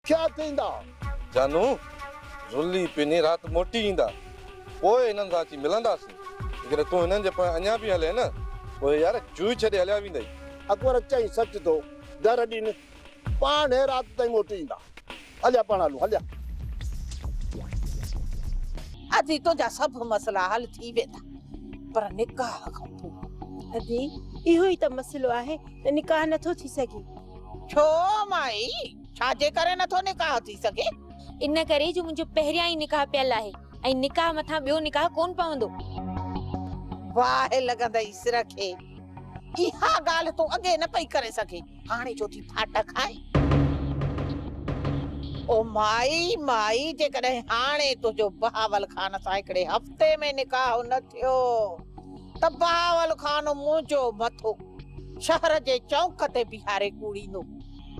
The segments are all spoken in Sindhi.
ٿيا ٿيندا. جانو، زلي پنهي رات موٽي ايندا. پوء هنن سان اچي ملنداسين. جيڪڏهن تون هنن جي پويان اڃا به هلين نه، پوء يار جوئي ڇڏي هليا ويندئي. اڪبر چيائين، سچ ٿو. در ڏين. پاڻ رات تائين موٽي ايندا. هليا پاڻ هلون هليا. ادي تنهنجا سڀ مسئلا حل ٿي ويندا پر نڪاح کان پوء. ادي اهو ئي ته مسئلو آهي ته نڪاح نٿو ٿي سگهي. ڇو مائي ڇا جي ڪري نٿو نڪاح ٿي سگهي؟ ان ڪري جو منهنجو پهريان ئي نڪاح پيل آهي ۽ نڪاح مٿان ٻيو نڪاح ڪون پوندو. باهه لڳندئي سر کي. اها ڳالهه تون اڳي نه پئي ڪري سگهين. هاڻي ڇو ٿي ڦاٽا کائين؟ او مائي، مائي، جيڪڏهن هاڻي تنهنجو بهاول خان سان هڪڙي هفتي ۾ نڪاح نه ٿيو ته بهاول خان منهنجو مٿو شهر جي چؤنڪ تي بيهاري ڪوڙيندو.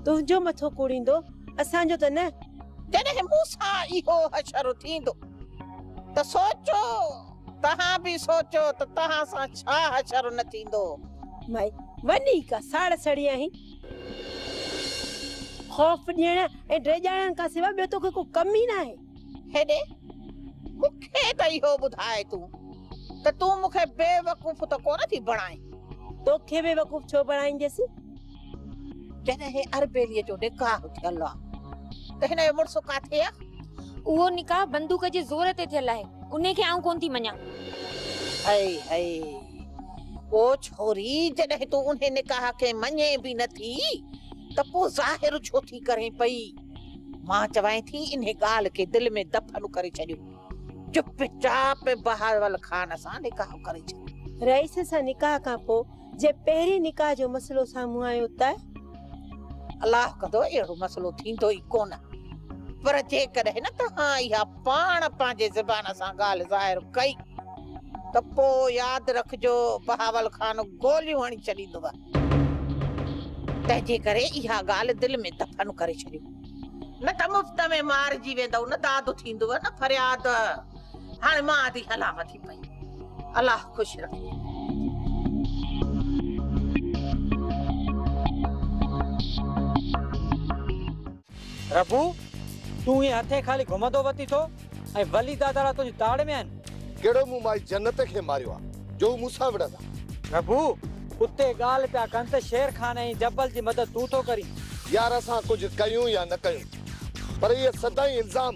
تنهنجو مٿو ڪوڙيندو، اسان جو ته نه. جڏهن مون سان اهو حشر ٿيندو ته سوچو. توهان به سوچو ته توهان سان ڇا حشر نه ٿيندو. مئي، وڃي ڪا ساڙ سڙي آهين. خوف ڏيڻ ۽ ڊيڄارڻ کان سواء ٻيو توکي ڪو ڪم ئي ناهي. هيڏي، مون کي ته اهو ٻڌاء تون ته تون مون کي بيوقوف ته ڪونه ٿي بڻائين. توکي بيوقوف ڇو بڻائينديس؟ جڏهن هي اربيلي جو نڪاح ٿيل آ ته هن جو مڙس ڪاٿي آ؟ اهو نڪاح بندوق جي زور تي ٿيل آهي، انهي کي آئون ڪونه ٿي مڃان. هئي هئي، او ڇوري جڏهن تون انهي نڪاح کي مڃين به نه ٿي ته پوء ظاهر ڇو ٿي ڪرين پئي؟ مان چوانء ٿي انهي ڳالهه کي دل ۾ دفن ڪري ڇڏيو، چپ چاپ بهاول خان سان نڪاح ڪري ڇڏ. رئيس سان نڪاح کان پوء جي پهرين نڪاح جو مسئلو سامهون آيو ته. الله ڪندو اهڙو مسئلو ٿيندو ئي ڪونه. پر جيڪڏهن توهان اها پاڻ پنهنجي زبان سان ڳالهه ظاهر ڪئي ته پوء ياد رکجو بهاول خان گوليون هڻي ڇڏيندو. تنهنجي ڪري اها ڳالهه دل ۾ دفن ڪري ڇڏيو. نه ته مفت ۾ مارجي ويندؤ، نه داد ٿيندو نه فرياد. هاڻي مان ٿي هلان. ٿي پئي. الله خوش رکي. ربو تون ائين هٿين خالي گهمندو وتي ٿو ۽ ولي داداڙا تنهنجي تاڙ ۾ آهن. ڪهڙو مون مائي جنت کي ماريو آ جو هو مون سان وڙهندا. ربو اتي ڳالهه پيا ڪن ته شير خان ۽ جبل جي مدد تون ٿو ڪرين. يار اسان ڪجهه ڪيون يا نه ڪيون پر اهي سدائين الزام.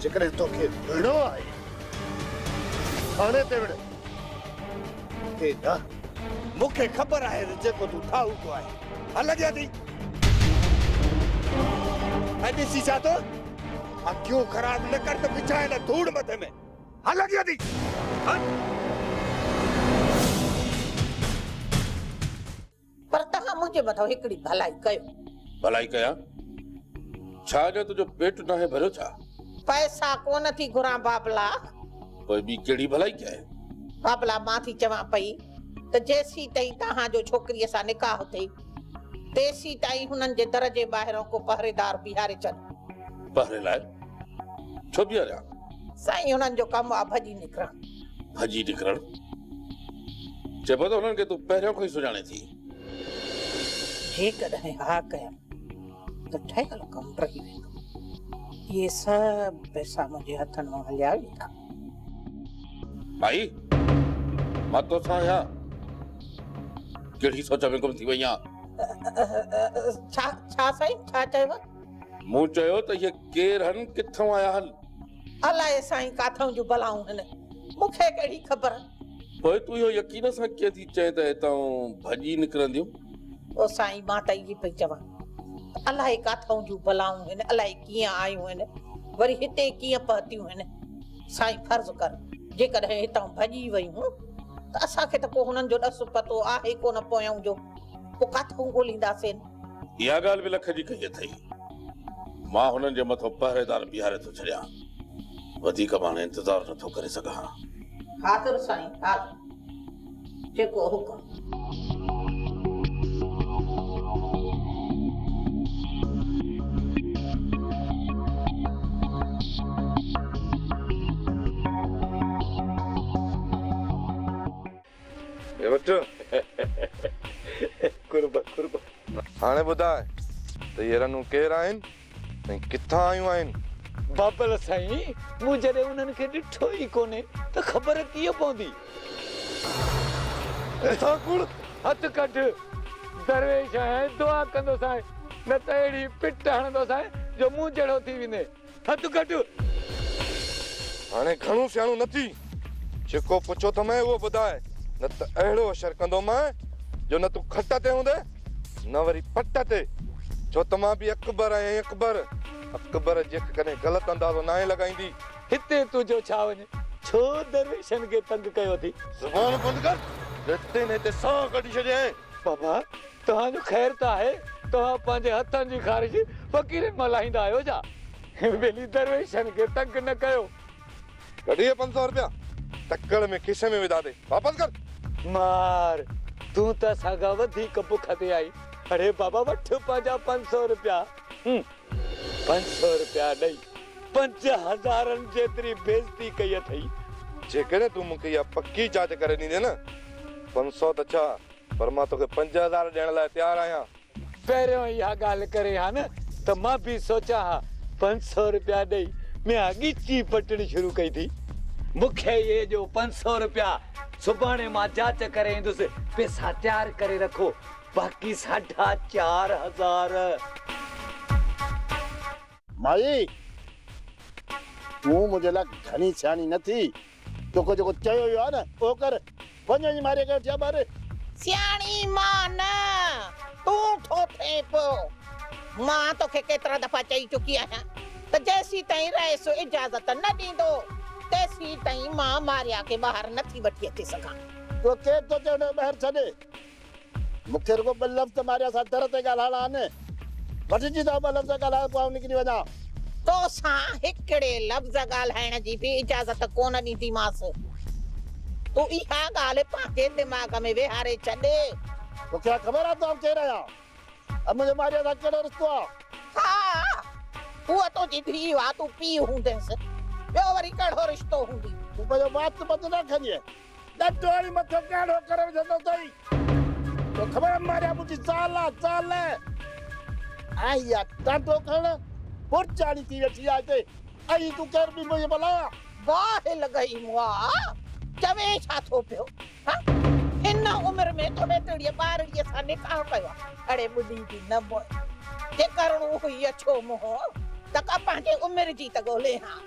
جيڪڏهن توکي وڙهڻو آهي ته ٿاڻي تي وڙهه، هتي نه. مون کي خبر آهي ته جيڪو تون ٺاهو اهو آهي. هل اڳيان ٿي ۽ ڏسي ڇا ٿو. اکيون خراب نه ڪر ته وڇائي نه ڌوڙ مٿي ۾. هل اڳيان ٿي هل. پر توهان منهنجي مٿان هڪڙي ڀلائي ڪيو. ڀلائي ڪيان؟ ڇا اڃا تنهنجو پيٽ ناهي ڀريو ڇا؟ پئسا ڪونه ٿي گهران بابلا. پوء ٻي ڪهڙي ڀلائي ڪيانء؟ بابلا مان ٿي چوان پئي ته جيسيتائين توهان جو ڇوڪريء سان نڪاح ٿئي تيسيتائين هنن جي در جي ٻاهران ڪو پهريدار بيهاري ڇڏ. پهري لاء ڇو بيهاريان؟ سائين هنن جو ڪم آ ڀڄي نڪرڻ. ڀڄي نڪرڻ چئبو ته انهن کي تون پهريون کان ئي سڃاڻين ٿي. جيڪڏهن ها ڪيم ته ٺهيل ڪم رهي ويندو. اهي سڀ پئسا منهنجي هٿن مان هليا ويندا. ڀائي مان توسان آهيان. ڪهڙي سوچ ۾ گم ٿي وئي آن؟ ڇا ڇا سائين ڇا چيو؟ مون چيو ته اهي ڪير هن ڪٿان آيا هن؟ الائي سائين ڪاٿئون جون بلائون هن، مون کي ڪهڙي خبر. پوء تون اهو يقين سان ڪيئن ٿي چئين ته هتئون ڀڄي نڪرنديون؟ او سائين مان ته اهي پئي چوان ته الائي ڪاٿئون جون بلائون هن، الائي ڪيئن آيون هن، وري هتي ڪيئن پهتيون هن. سائين فرض ڪر جيڪڏهن هتئون ڀڄي ويون ته اسان کي ته ڪو هنن جو ڏس پتو آهي ڪونه پوئئون جو، پوء ڪاٿئون ڳولينداسين؟ اها ڳالهه به لک جي ڪئي اٿئي. مان هنن جي مٿو پهريدار بيهاري ٿو ڇڏيان. وڌيڪ به هاڻي انتظار نه ٿو ڪري سگهان. حاضر سائين حاضر. جيڪو حڪم. وٺ قرب قرب. هاڻي ٻڌاء ته اهي رنون ڪير آهن ۽ ڪٿان آيون آهن؟ بابل سائين مون جڏهن انهن کي ڏٺو ئي ڪونهي ته خبر ڪيئن پوندي. اسان ڪوڙ هٿ ڪڍ درويش ۽ دعا ڪندوسانء نه ته اهڙي پٽ هڻندوسانء جو مون جهڙو ٿي ويندين. ٿڌ گهٽ هاڻي گهڻو سياڻو نه ٿي، جيڪو پڇو ٿمئين اهو ٻڌاء، نه ته اهڙو اشر ڪندومانء جو نه تون کٽ تي هوندين نه وري پٽ تي، ڇو ته مان به اڪبر آهيان اڪبر، اڪبر جيڪ ڪڏهن غلط اندازو ناهي لڳائيندي. هتي تون جو ڇا وڃ، ڇو درويشن کي تنگ ڪيو اٿئي. زبان بند ڪر، جيستائين نه هتي ساهه ڪڍي ڇڏيانء. بابا! توهان جو خير ته آهي، توهان پنهنجي هٿن جي خارش فقيرن مان لاهيندا آهيو ڇا؟ هن ٻيلي درويشن کي تنگ نه ڪيو. ڪڍ اهي پنج سؤ رپيا، تڪڙ ۾ کيسي ۾ وڌا ٿي، واپس ڪر! مار، تون ته اسان کان وڌيڪ بک تي آهين، اڙي بابا وٺ پنهنجا پنج سؤ رپيا. هن پنج سؤ رپيا ڏئي، پنج هزارن جيتري بيعزتي ڪئي اٿئي. جيڪڏهن تون مون کي اها پڪي جاچ ڪري ڏيندين نه، پنج سؤ ته ڇا، پر مان توکي پنج هزار ڏيڻ لاء تيار آهيان. پهريون اها ڳالهه ڪرين ها نه ته مان به سوچان ها. پنج سؤ رپيا ڏئي ميان ڳچي پٽڻي شروع ڪئي ٿي. مون کي اهي ڏيو پنج سؤ رپيا. سڀاڻي مان جاچ ڪري ايندس. پيسا تيار ڪري رکو. باقي ساڍا چار هزار. مائي! تون منهنجي لاء گهڻي سياڻي نه ٿي. توکي جيڪو چيو ويو آهي نه، اهو ڪر. وڃ وڃي ماريء کي وٺي آ ٻاهر. سياڻي مان نه، تون ٺو ٿئين پيو. مان توکي ڪيترا دفعا چئي چڪي آهيان ته جيسيتائين رئيس اجازت نه ڏيندو، تيسيتائين مان ماريا کي ٻاهر نه ٿي وٺي اچي سگهان. توکي ٿو چيان ته ٻاهر ڇڏ. مون کي رڳو ٻه لفظ ماريا سان در تي ڳالهائڻا آهن. وٺجي ته ٻه لفظ ڳالهايو پوء آئون نڪري وڃان. تو سان هڪڙي لفظ ڳالهائڻ جي به اجازت ڪونه ڏينديمانس. تون اها ڳالهه پنهنجي دماغ ۾ ويهاري ڇڏ. تو کي ها خبر آهي ته آئون ڪير آهيان ۽ منهنجو ماريا سان ڪهڙو رشتو آهي؟ ها، هوء تنهنجي ڌيء آهي، تون پيء هوندينس، ٻيو وري ڪهڙو رشتو هوندي؟ تون پنهنجو وات ٻڌ نه کنيء. ڏت هڻي مٿو ڪهڙو ڪري وجهندو اٿئي. تو خبر ماريا منهنجي زال آ زال. ۽ اها ٽانڊو کڻ برچاڻي ٿي ويٺي آ هتي. ۽ تون ڪير بي منهنجي ڀلا. باهه لڳئي مئا چوين ڇا ٿو پيو ها هن عمر ۾ تو هيتڙيء ٻارڙيء سان نڪاح ڪيو آ اڙي ٻڍي جي نه مئي جي ڪرڻو هئي اڇو منهن ته ڪا پنهنجي عمر جي ته ڳولين ها.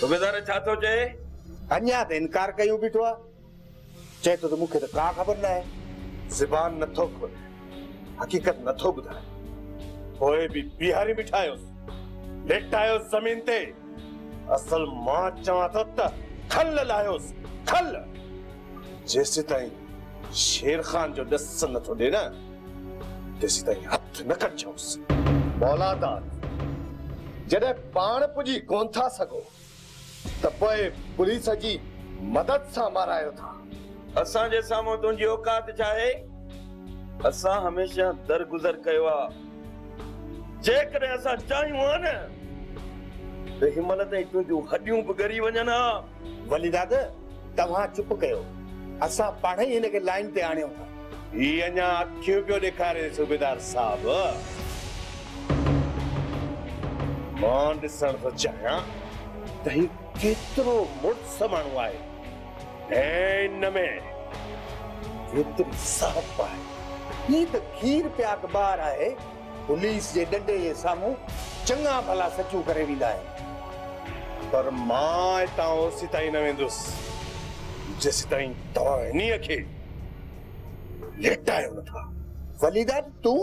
صوبيدار ڇا ٿو چئي؟ اڃا ته انڪار ڪيو بيٺو آ. چئي ٿو ته مون کي ته ڪا خبر ناهي. زبان نه ٿو کولي. حقيقت نه ٿو ٻڌائي. پوء به بيهاري بيٺا آهيوس. ليٽايوس زمين تي. اصل مان چوان ٿو ته کل لاهيوس کل. جيسيتائين شير خان جو ڏس نه ٿو ڏي نه تيسيتائين هٿ نه ڪڍجوس. مولا داد، جڏهن پاڻ پڄي ڪونه ٿا سگهو ته پوء پوليس جي مدد سان مارايو ٿا. اسان جي سامهون تنهنجي اوقات ڇا آهي؟ اسان هميشه درگذر ڪيو آهي. جيڪڏهن اسان چاهيون ها نه ته هن مهل تائين تنهنجون هڏيون به ڳري وڃن ها. ولي داد توهان چپ ڪيو اسان پاڻ ئي هن کي لائين تي آڻيون ٿا. هي اڃا اکيون پيو ڏيکاري صوبيدار صاحب. مان ڏسڻ ٿو چاهيان ته هي ڪيترو مڙس ماڻهو آهي. ۽ ان ۾ ڪيتري سهپ آهي. هي ته کير پي اخبار آهي، پوليس جي ڏنڊي جي سامهون چڱا ڀلا سچون ڪري ويندا آهن. پر مان اتان اوسيتائين نه ويندس، جيسيتائين توهان هنيء کي ليٽايو نٿا. وليدا تون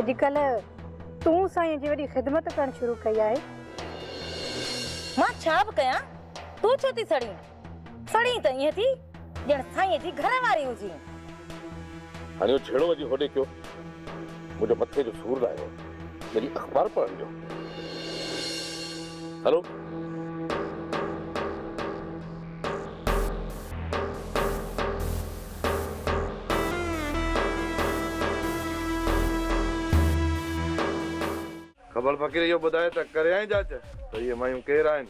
اڄڪلهه تون سائينء جي وڏي خدمت ڪرڻ شروع ڪئي آهي. مان ڇا به ڪيان، تون ڇو ٿي سڙين؟ سڙين ته ائين ٿي ڄڻ سائينء جي گهر واري هجين. هاڻي اهو جهيڙو وجهي هوڏي ڪيو، منهنجو مٿي جو سور لاهيو، وڃي اخبار پڙهڻ ڏيو. هلو. خبر فقير اهو ٻڌاء ته ڪريائين جاچ ته اهي مايون ڪير آهن؟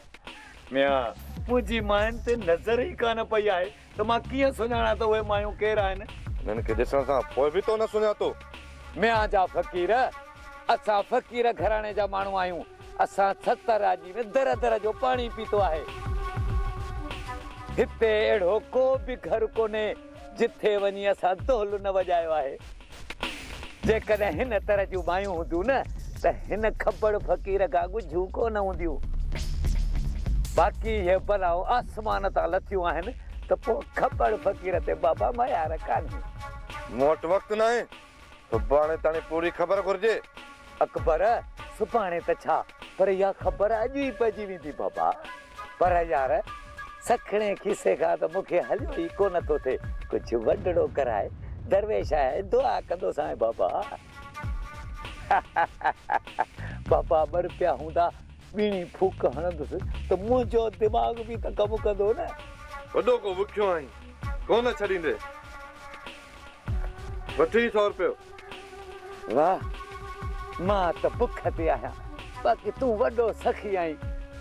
ميان، منهنجي ماين تي نظر ئي ڪانه پئي آهي ته مان ڪيئن سڃاڻان ته اهي مايون ڪير آهن؟ انهن کي ڏسڻ کان پوء به تو نه سڃاتو؟ ميان جا فقير، اسان فقير گهراڻي جا ماڻهو آهيون. اسان ستر راڄي ۾ در در جو پاڻي پيتو آهي. هتي اهڙو ڪو به گهر ڪونهي جتي وڃي اسان دهل نه وڄايو آهي. جيڪڏهن هن طرح جون مايون هونديون نه ته هن کبڙ فقير کان ڳجهون ڪونه هونديون. باقي اهي بلائون آسمان تان لٿيون آهن ته پوء کبڙ فقير تي بابا ميار ڪانهي. مون وٽ وقت ناهي سڀاڻي تاڻي پوري خبر گهرجي. اڪبر، سڀاڻي ته ڇا، پر اها خبر اڄ ئي پئجي ويندي بابا. پر يار، سکڻي کيسي کان ته مون کي هليو ئي ڪو نه ٿو ٿئي. ڪجهه وڏڙو ڪرائي، درويش آهي، دعا ڪندوسانء بابا. بابا ٻر پيا هوندا، ٻيڻي ڦوڪ هڻندس ته منهنجو دماغ به ته ڪم ڪندو نه. وڏو ڪو وکيو آهين، ڪو نه ڇڏيندين. وٺ هي سؤ روپيو. واه! مان ته بک تي آهيان، باقي تون وڏو سخي آهين.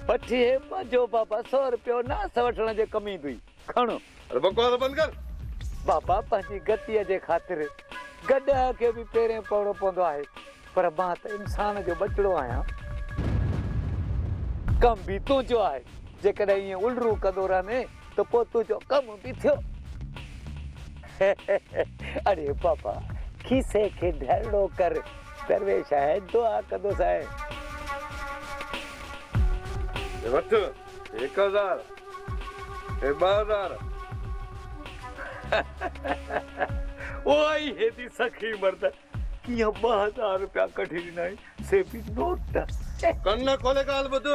وٺ هي پنهنجو بابا سؤ روپيو، ناس وٺڻ جي ڪم ايندوئي. کڻ. اڙي بڪواس بند ڪر. بابا پنهنجي گتيء جي خاطر گڏهه کي به پيرين پوڻو پوندو آهي. پر مان ته انسان جو ٻچڙو آهيان. ڪم به تنهنجو آهي. جيڪڏهن ائين الرون ڪندو رهندين ته پوء تنهنجو ڪم به ٿيو. اڙي بابا، کيسي کي ڍرڙو ڪر. درويش آهي، دعا ڪندوسانء. هي وٺ، هڪ هزار. هي ٻه هزار. اهو ئي هيتي سخي مرد. ڪيئن ٻه هزار رپيا ڪڍي ڏنائين سي به نوٽ. ڪن کولي ڳالهه ٻڌ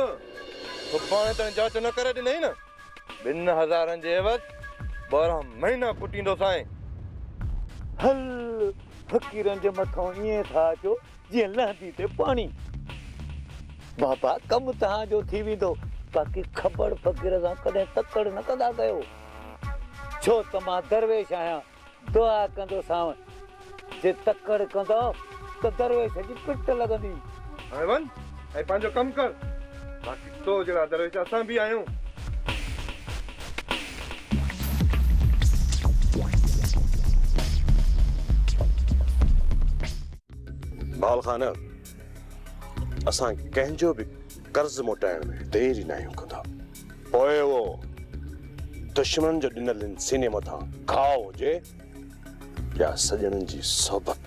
سڀاڻي تائين جاچ نه ڪري ڏنئي نه ٻن هزارن جي عيوض ٻارهن مهينا ڪٽيندوسانء. هل فقيرن جي مٿئون ائين ٿا اچو جيئن لهندي تي پاڻي. بابا ڪم توهان جو ٿي ويندو باقي کٻڙ فقير سان ڪڏهن تڪڙ نه ڪندا ڪيو ڇو ته مان درويش آهيان دعا ڪندو سانء جي تڪڙ ڪندو ته درويش جي پٽ لڳندي. هاڻي وڃ ۽ پنهنجو ڪم ڪر باقي تو جهڙا درويش اسان به آهيون. بهاول خان اسان ڪنهن جو به قرض موٽائڻ ۾ دير ئي ناهيون ڪندا. پوء اهو دشمنن جو ڏنل هن سيني مٿان گهاء هجي يا سڄڻن جي صحبت.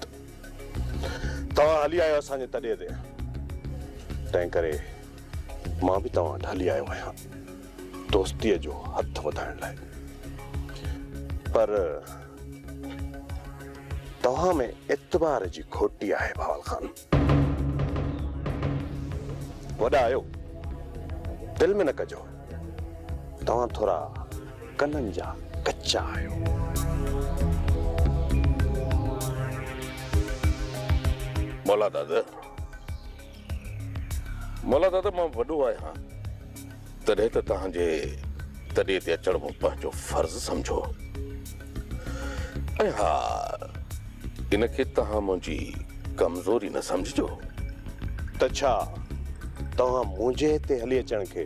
توهان هلي آيو اسان جي تڏي تي، تنهنڪري مان به توهان وٽ هلي آيو آهيان دوستيء جو هٿ وڌائڻ لاء. پر توهان ۾ اعتبار جي کوٽي آهي بهاول خان. وڏا آهيو دل ۾ نه ڪجو توهان ٿورا ڪنن جا ڪچا آهيو. مولا داده مولا داده مان وڏو آهيان. تڏهن ته توهان جي تڏي تي اچڻ مون پنهنجو فرض سمجهو ۽ ها ان کي توهان منهنجي ڪمزوري نه سمجهجو. ته ڇا توهان منهنجي هتي هلي اچڻ کي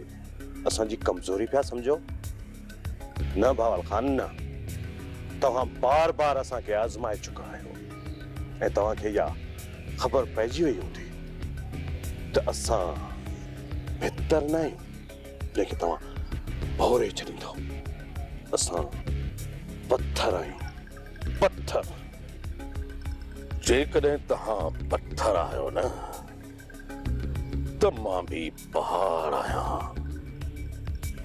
اسان جي ڪمزوري پيا سمجهو؟ نه بهاول خان نه. توهان بار بار اسان کي آزمائي چڪا آهيو ۽ توهان کي اها خبر پئجي وئي هوندي ته اسان بھتر نه آهيون جنهن کي توهان ڀوري ڇڏيندؤ. اسان پٿر آهيون پٿر. جيڪڏهن توهان پٿر آهيو نه ته مان به. پهاڙ آهيان،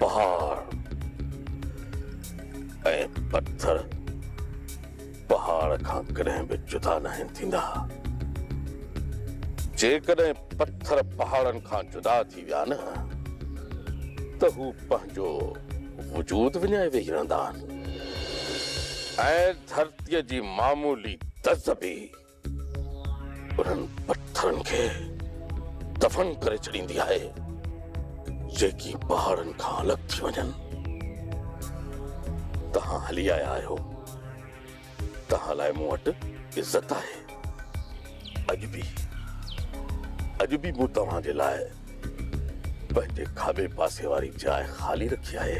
پهاڙ ۽ پٿر پهاڙ کان ڪڏهن به جدا ناهن ٿيندا. جيڪڏهن پٿر پهاڙن کان جدا ٿي ويا نه ته هو پنهنجو وجود وڃائي ويهي رهندا آهن ۽ ڌرتيء جي معمولي دز به انهن پٿرن کي دفن ڪري ڇڏيندي آهي جيڪي پهاڙن کان الڳ ٿي وڃن. توهان هلي آيا آهيو، توهان لاء مون وٽ عزت آهي. اڄ به اڄ به مون توهان جي لاء پنهنجي کاٻي پاسي واري جاء خالي رکي آهي.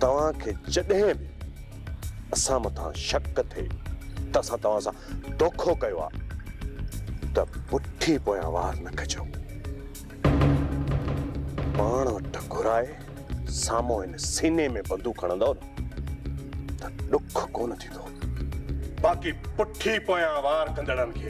توهان کي جڏهن به اسان مٿان شڪ ٿئي ته اسان توهان سان دوکو ڪيو آهي ته پٺي پويان وار نه ڪجو. پاڻ وٽ گهرائي سامهون هن سيني ۾ بندوق هڻندؤ نه ته ڏک ڪونه ٿيندو. باقي پٺي پويان وار ڪندڙن کي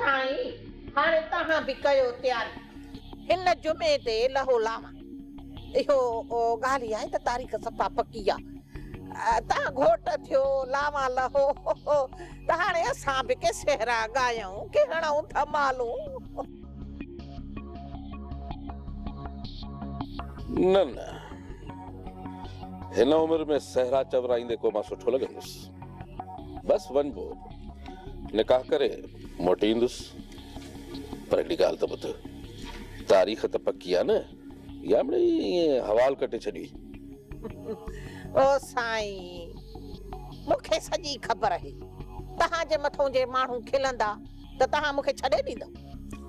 سائين هاڻي توهان به ڪيو تياري هن جمعي تي لهو لاوا اهو ڳالهه آهي ته تاريخ صفا پڪي آ توهان گهوٽ ٿيو لاوا لهو ته هاڻي اسان به ڪي سهرا ڳايون ڪي هڻئون ڌمالون. نه نه هن عمر ۾ سهرا چورائيندي ڪو مان سٺو لڳندس. بس ون گو نڪاح ڪري موٽي ايندس پر هڪڙي ڳالهه ته ٻڌ تاريخ ته پڪي آ نه يا مڙئي ائين حوال ڪٽي ڇڏي. او سائين مون کي سڄي خبر اهي توهان جي مٿون جي ماڻهو کلندا ته توهان مون کي ڇڏي ڏيندؤ.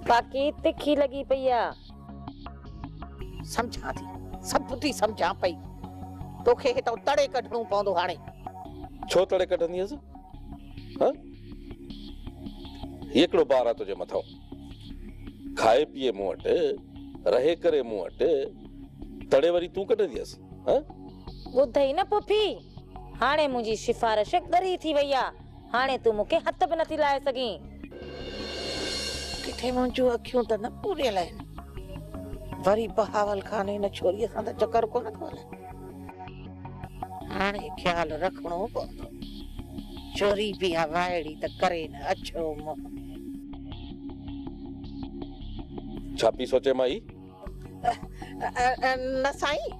باقي تکي لڳي پئي آ. سمجهان ٿي سڀ ٻڌي سمجهان پئي توکي هتان تڙي ڪڍڻو پوندو هاڻي. ڇو تڙي ڪڍندينس ها هي ڪهڙو بار آ تنهنجي مٿان کائي پيئي مون وٽ رهي ڪري مون وٽ تڙي وري تون ڪڍندينس ها. ٻڌئي نه پڦي هاڻي منهنجي سفارش ڳري ٿي وئي آ. هاڻي تون مون کي هٿ به نٿي لائي سگهين. ڪٿي منهنجون اکيون ته نه پوريل آهن. وري بهاول خان هن ڇوريء سان ته چڪر ڪونه ٿو هلائي. هاڻي خيال رکڻو پوندو. ڇوري به اها وائڙي ته ڪري نه اڇو منهن. ڇا پئي سوچين مائي؟ نه سائين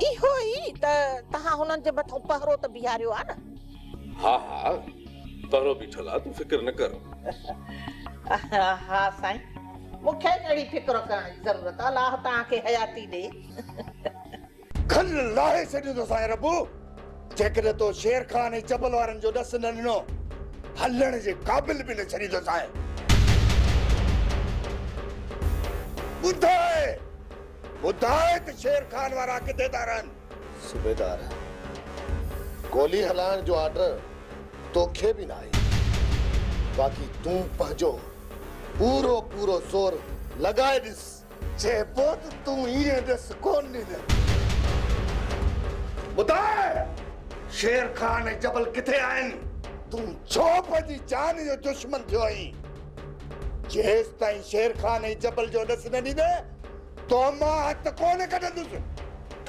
اهو ئي ته تهان هنن جي مٿو پهرو ته بيهاريو آ نه. ها ها پهرو بيٺل آ تون فڪر نه ڪر. ها سائين مون کي ڪهڙي فڪر ڪرڻ جي ضرورت آ الله تهان کي حياتي ڏي. کل لاهي ڇڏيون ٿو سائين ربو جيڪڏهن تو شير خان ۽ جبل وارن جو ڏس نه ڏنو هلڻ جي قابل به نه ڇڏيندو سائين ٻڌاء ٻڌاء ته شير خان وارا ڪٿي ٿا رهن. صوبيدار گولي هلائڻ جو آرڊر توکي به ناهي باقي تون پنهنجو پورو پورو زور لڳائي ڏس. چي پوٽ تون ايئن ڏس ڪون ڏنل. ٻڌاء شير خان ۽ جبل ڪٿي آهن؟ تون ڇو پنهنجي جان جو دشمن ٿيو آهين؟ جيستائين شير خان ۽ جبل جو ڏس نه ڏيندين تو مان هٿ ڪون ڪڍندس.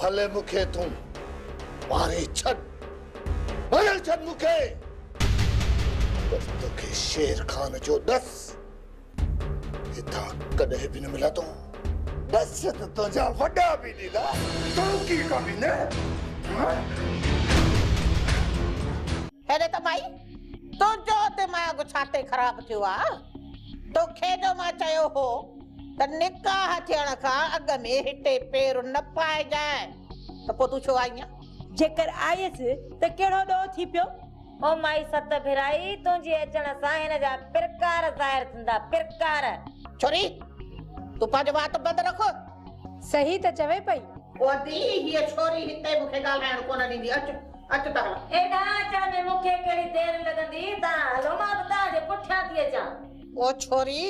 ڀلي مون کي تون ماري ڇڏ، ڀري ڇڏ مون کي، پر توکي شير خان جو ڏس. هتان ڪڏهن به نه ملندو. بس ته تنهنجا وڏا به ڏيندا توکي ڪامي نه ها. هيڏي ته مائي تنهنجو دماغ ڇا تي خراب ٿيو آ. توکي جو مان چيو هو ته نڪاح ٿيڻ کان اڳ ۾ هتي پير نه پائجانء ته پوء تون ڇو آئينء. جيڪر آيس ته ڪهڙو ڏوهه ٿي پيو. او مائي ست ڀيرائي، تنهنجي اچڻ سان هن جا پرڪار ظاهر ٿيندا، پرڪار. ڇوري! تون پنهنجي وات بند رک. صحيح ته چوي پئي. او ادي، هيء ڇوري هتي مون کي ڳالهائڻ ڪونه ڏيندي، اچ، اچ ته هلان. هيڏانهن اچڻ ۾ مون کي ڪهڙي دير لڳندي، توهان هلو، مان به توهان جي پٺيان ٿي اچان. او ڇوري!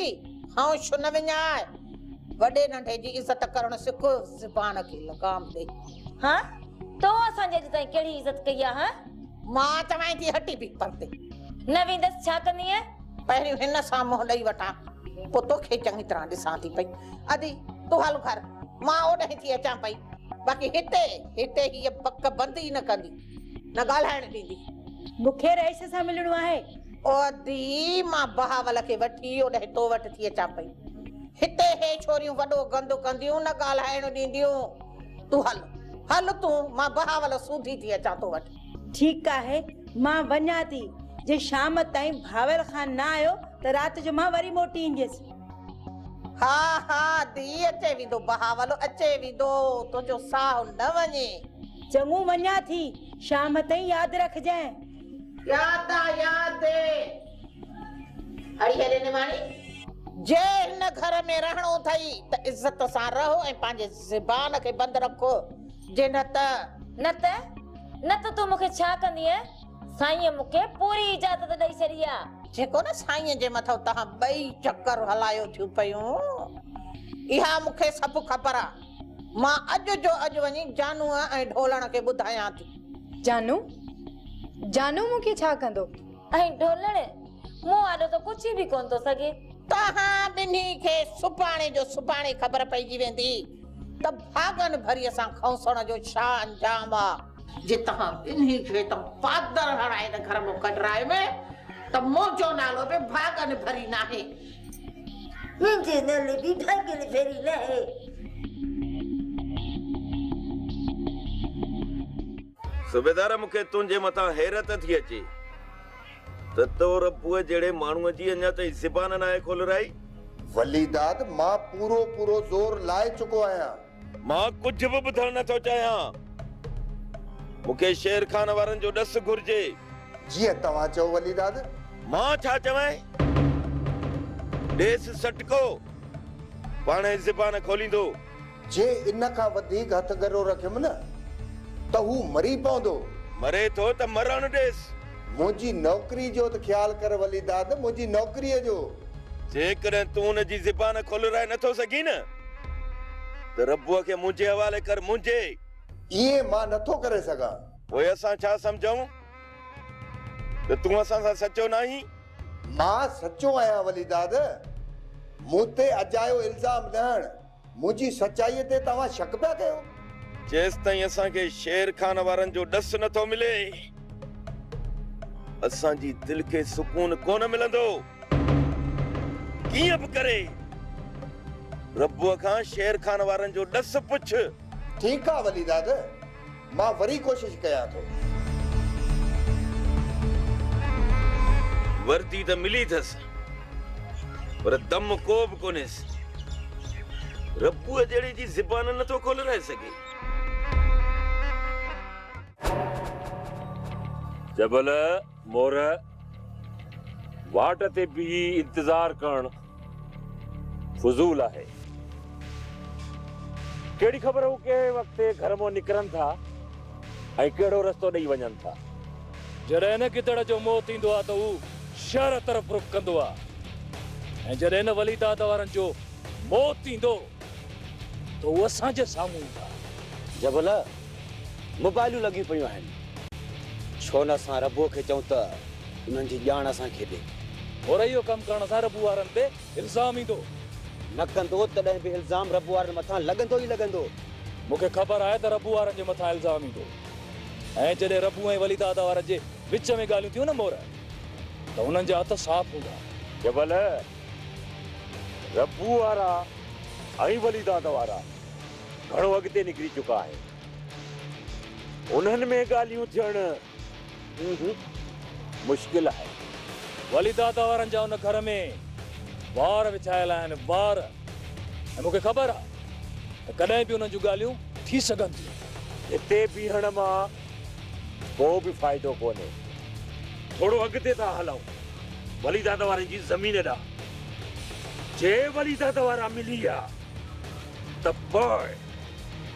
هائون شو نه وڃاء. وڏي ننڍي جي عزت ڪرڻ سک، زبان کي لگام ڏي. هانء! تو اسان جي اڄ تائين ڪهڙي عزت ڪئي آ، هانء؟ مان توهان جي هٽي به پرتي نه ويندس، ڇا ڪندينء؟ پهريون هن سان منهن ڏئي وٺان، پوء توکي چڱي طرح ڏسان ٿي پئي. ادي، تون هل گهر، مان اوڏانهن ٿي اچان پئي. باقي هتي، هتي هيء بڪ بند ئي نه ڪندي، نه ڳالهائڻ ڏيندي. مون کي رئيس سان ملڻو آهي. او ادي، مان بهاول کي وٺي اوڏانهن تو وٽ ٿي اچان پئي. هتي هي ڇوريون وڏو گند ڪنديون، نه ڳالهائڻ ڏينديون. تون هل هل تون مان بهاول سوڌي ٿي اچان تو وٽ. ٺيڪ آهي مان وڃان ٿي جي شام تائين بهاول خان نه آيو ته رات جو مان وري موٽي اينديس. ها ها ڌيء اچي ويندو بهاول اچي ويندو تنهنجو ساهه نه وڃي. چڱو وڃان ٿي شام تائين ياد رکجانء. ياد آ ياد. اڙي هيڏي نماڻي! جي هن گهر ۾ رهڻو اٿئي ته عزت سان رهو ۽ پنهنجي زبان کي بند رکو، جي نه ته. نه ته، نه ته تون مون کي ڇا ڪندينء؟ سائينء مون کي پوري اجازت ڏئي ڇڏي آ. جيڪو نه سائينء جي مٿو تهان ٻئي چڪر هلايو ٿيون پيون، اها مون کي سڀ خبر آ. مان اڄ جو اڄ وڃي جانوء ۽ ڍولڻ کي ٻڌايان ٿي. جانو! جانو مون کي ڇا ڪندو؟ ائين ڊولڻي، مون آڏو ته پڇي به ڪونه ٿو سگهين. توهان ٻنهي کي سڀاڻي جو سڀاڻي خبر پئجي ويندي ته ڀاڳن ڀريء سان کنوسڻ جو ڇا انجام آ. جي توهان ٻنهي کي ته پادر هڻائي نه گهر مان ڪڍرائي م ته منهنجو نالو به ڀاڳن ڀري ناهي. منهنجي نالي به ڀاڳن ڀري ناهي. صوبيدار مون کي تنهنجي مٿان حيرت ٿي اچي ته تو ربوء جهڙي ماڻهوء جي اڃا تائين زبان ناهي کولرائي. وليداد مان پورو پورو زور لائي چڪو آهيان. مان ڪجهه به ٻڌڻ نه ٿو چاهيان. مون کي شير خان وارن جو ڏس گهرجي. جيئن توهان چئو وليداد. مان ڇا چوين؟ ڏيس سٽڪو. پاڻهي زبان کوليندو. جي ان کان وڌيڪ هٿ ڳرو رکيم نه ته هو مري پوندو. مري ٿو ته مرڻ ڏيس. منهنجي نوڪري جو ته خيال ڪر ولي داد، منهنجي نوڪريء جو. جيڪڏهن تون ان جي زبان کولرائي نه ٿو سگهين نه ته ربوء کي منهنجي حوالي ڪر، منهنجي. ائين مان نه ٿو ڪري سگهان. پوء اسان ڇا سمجهون ته تون اسان سان سچو ناهين؟ مان سچو آهيان ولي داد، مون تي اجايو الزام نه هڻ. منهنجي سچائيء تي توهان شڪ پيا ڪيو؟ جيستائين اسان کي شير خان وارن جو ڏس نه ٿو ملي، اسان جي دل کي سڪون ڪونه ملندو. ڪيئن به ڪري ربوء کان شير خان وارن جو ڏس پڇ. ٺيڪ آ وليداد. مان وري ڪوشش ڪيان ٿو. وردي ته ملي ٿس پر دم ڪو به ڪونهيس. ربوء جهڙي جي زبان نه ٿو کولرائي سگهي. جبل، مور، واٽ تي بيهي انتظار ڪرڻ. فضول آهي ڪهڙي خبر هو ڪهڙي وقت گهر مان نڪرن ٿا ۽ ڪهڙو رستو ڏئي وڃن ٿا. جڏهن هن گدڙ جو موت ايندو آهي ته هو شهر طرف رخ ڪندو آهي ۽ جڏهن هن ولي داد وارن جو موت ايندو ته هو اسان جي سامهون ايندا. جبلا! موبائلون لڳيون پيون آهن، ڇو نه اسان ربوء کي چئون ته انهن جي ڄاڻ اسان کي ڏي. پر اهو ڪم ڪرڻ سان ربوء وارن تي الزام ايندو. نه ڪندو تڏهن به الزام ربوء وارن مٿان لڳندو ئي لڳندو. مون کي خبر آهي ته ربوء وارن جي مٿان الزام ايندو ۽ جڏهن ربوء ۽ ولي دادا وارن جي وچ ۾ ڳالهيون ٿيون نه مور ته انهن جا هٿ صاف هوندا. جي ڀل ربوء وارا ۽ ولي دادا وارا گهڻو اڳتي نڪري چڪا آهن. انهن ۾ ڳالهيون ٿيڻ مشڪل آهي. ولي دادا وارن جا ان گهر ۾ وار وڇايل آهن، وار. ۽ مون کي خبر آهي ته ڪڏهن به انهن جون ڳالهيون ٿي سگهن ٿيون. هتي بيهڻ مان ڪو به فائدو ڪونهي. ٿورو اڳتي ٿا هلون ولي دادا وارن جي زمين ڏانهن. جي ولي دادا وارا ملي ويا. ته پوء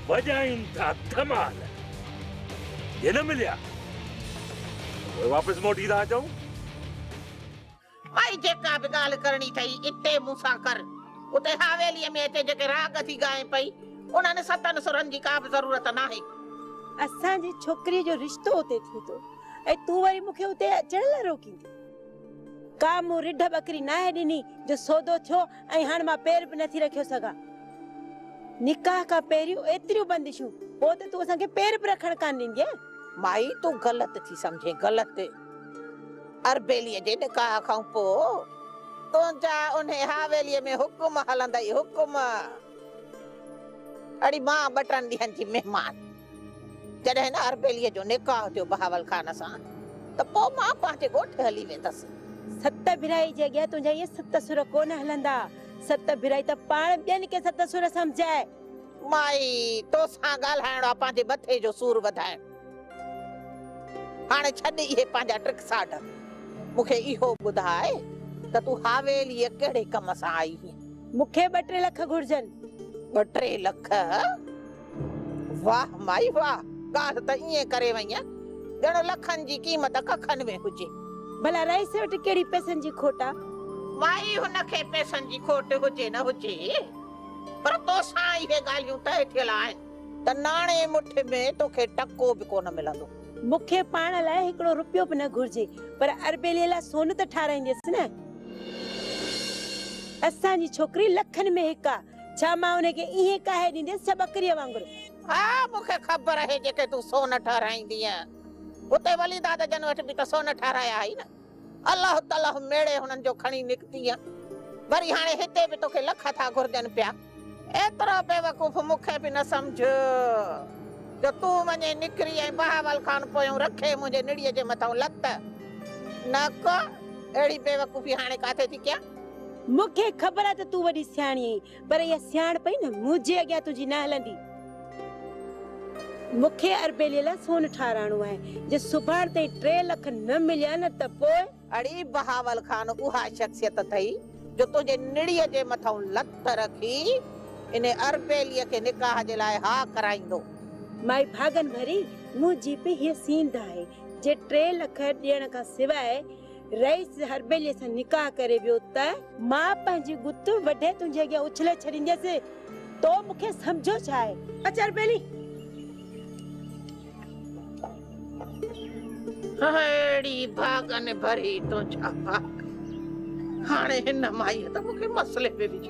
وڄائين ٿا ڌمال. جي نه مليا ته پوء واپس موٽي ٿا اچون. ڀائي جيڪا به ڳالهه ڪرڻي ٿئي اتي مون سان ڪر. اتي حاويليء ۾ اچي جيڪي راڳ ٿي ڳائين پئي انهن ستن سرن جي ڪا به ضرورت ناهي. اسان جي ڇوڪريء جو رشتو اتي ٿئي ٿو ۽ تون وري مون کي اتي اچڻ لاء روڪيندين. ڪا مون رڍ ٻڪري ناهي ڏني جو سودو ٿيو ۽ هاڻ مان پير به نٿي رکيو سگهان. نڪاح کان پهريون ايتريون بندشون، پوء ته تون اسان کي پير به رکڻ ڪانه ڏيندينء. مائي تون غلط ٿي سمجهين غلط. اربيليء جي نڪاح کان پوء تنهنجا انهي حاويليء ۾ حڪم هلندا ئي حڪم. اڙي مان ٻه ٽن ڏينهن جي مهمان. جڏهن نه اربيليء جو نڪاح ٿيو بهاول خان سان ته پوء مان پنهنجي ڳوٺ هلي ويندس. ست ڀرائي جي اڳيان تنهنجا اهي ست سر ڪونه هلندا. ست ڀرائي ته پاڻ ٻين کي ست سر سمجهائي. مائي، تو سان ڳالهائڻو آ پنهنجي مٿي جو سور وڌائڻ. هاڻي ڇڏ اهي پنهنجا ٽرڪ ساڍ. مون کي اهو ٻڌاء ته تون حويليء ڪهڙي ڪم سان آئي هئين؟ مون کي ٻه ٽي لک گهرجن. ٻه ٽي لک؟ واھ مائي واھ ڳالھ ته ائين ڪري وئينء ڄڻ لکن جي قيمت ڪکن ۾ هجي. ڀلا رئيس وٽ ڪهڙي پئسن جي کوٽ آ. مائي هن کي پئسن جي کوٽ هجي نه هجي پر توسان اهي ڳالهيون طئي ٿيل آهن ته ناڻي مٺ ۾ توکي ٽڪو به ڪونه ملندو. مون کي پاڻ لاء هڪڙو رپيو به نه گهرجي پر اربيلي لاء سون ته ٺاراهينديس نه. اسان جي ڇوڪري لکن ۾ هڪ آ ڇا مان انهي کي ايئن ڪاهي ڏينديس ڇا ٻڪريء وانگر؟ ها مون کي خبر آهي جيڪي تون سون ٺهرائيندينء اتي وليداد جن وٽ به ته سون ٺهرايا هئائي نه الله تلهه ميڙي هنن جو کڻي نڪتينء وري هاڻي هتي به توکي لک ٿا گهرجن پيا ايترو بيوقوف مون کي به نه سمجهه جو تون وڃي نڪري ۽ بهاول خان پويون رکي منهنجي نڙيء جي مٿئون لت نه ڪه اهڙي بيوقوفي هاڻي ڪاٿي ٿي ڪيان. مون کي خبر آهي ته تون وڏي سياڻي آهين، پر اها سياڻپ ئي نه منهنجي اڳيان تنهنجي نه هلندي. مون کي اربيليء لاء سون ٺاراهڻو آهي، جي سڀاڻ تائين ٽي لک نه مليا نه ته پوء. اڙي بهاول خان اها شخصيت اٿئي جو تنهنجي نڙيء جي مٿئون لت رکي ان اربيليء کي نڪاح جي لاء ها ڪرائيندو. مائي ڀاڳن ڀري منهنجي به هيء سينڌ آهي، جي ٽي لک ڏيڻ کان سواء. رئيس هرٻيلي سان نڪاح ڪري ويو ته. مان پنهنجي ڳت وڍي تنهنجي اڳيان اڇلي ڇڏينديس. تو مون کي سمجهيو ڇا آهي؟ اچ هرٻيلي! اهڙي ڀاڳن ڀري تون ڇا هاڻي هن مائيء ته مون کي مسئلي ۾ وجهي.